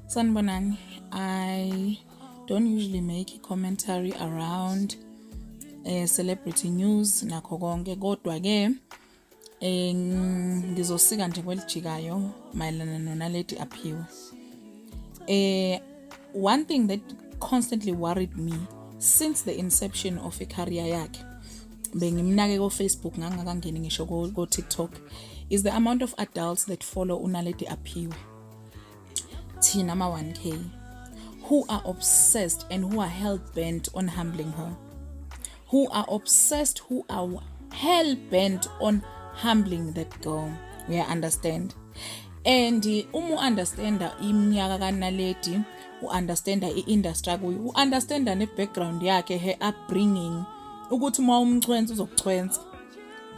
Sanibonani, I don't usually make a commentary around eh, celebrity news nakho konke kodwa ke eh, ngizosika nje kwelijikayo mayelana nonaledi aphiwe eh, one thing that constantly worried me since the inception of icareer yakhe bengimnake kofacebook ngangakangeni ngisho kotiktok is the amount of adults that follow unaledi aphiwe thina ama 1k who are obsessed and who are hell bent on humbling her who are obsessed who are hell bent on humbling that girl we understand and uma uunderstanda iminyaka kanaledi uunderstanda iindustry kuyo uunderstanda nebackground yakhe her upbringing ukuthi uma umchwensa uzokuchwensa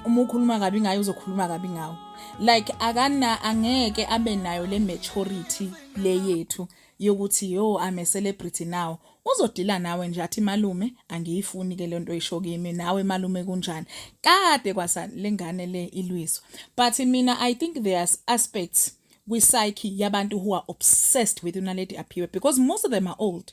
uma ukhuluma kabi ngayo uzokhuluma kabi ngawo like akana angeke abe nayo le maturity le yethu yokuthi yo I'm a celebrity now uzodila nawe nje athi malume angiyifuni ke lento isho kimi nawe malume kunjani kade kwasa lengane le ilwiso but mina i think there are aspects kwi psyche yabantu who are obsessed with unaledi aphiwe because most of them are old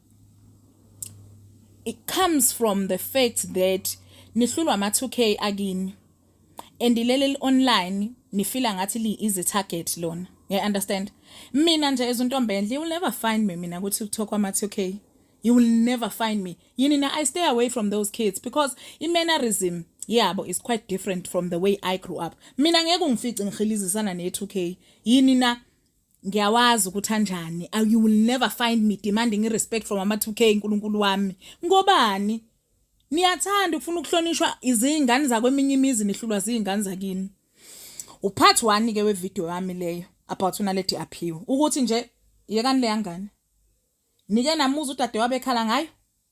it comes from the fact that nihlulwa ama 2k akini and leli online nifila ngathi li is a target lona you understand mina nje ezintombi enhle you will never find me mina ukuthi kuthokwa ama 2k you will never find me yini na i stay away from those kids because i mannerism yabo is quite different from the way i grew up mina ngeke ungifice ngihilizisana ne 2k yini na ngiyawazi ukuthi anjani you will never find me demanding irespect from ama-2k nkulunkulu wami ngobani niyathanda ukufuna ukuhlonishwa izingane zakweminye imizi nihlulwa ziy'ngane zakini uphathi wani-ke wevidiyo yami leyo about unaledi aphiwe ukuthi nje yekani leyangane nike namuza udade wabekhala ngayo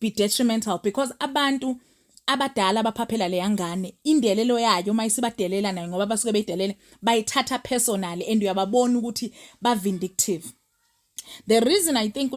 be detrimental because abantu abadala abaphaphela leya ngane indelelo yayo uma isibadelela nayo ngoba basuke beyidelele bayithatha personally and uyababona ukuthi ba vindictive the reason i think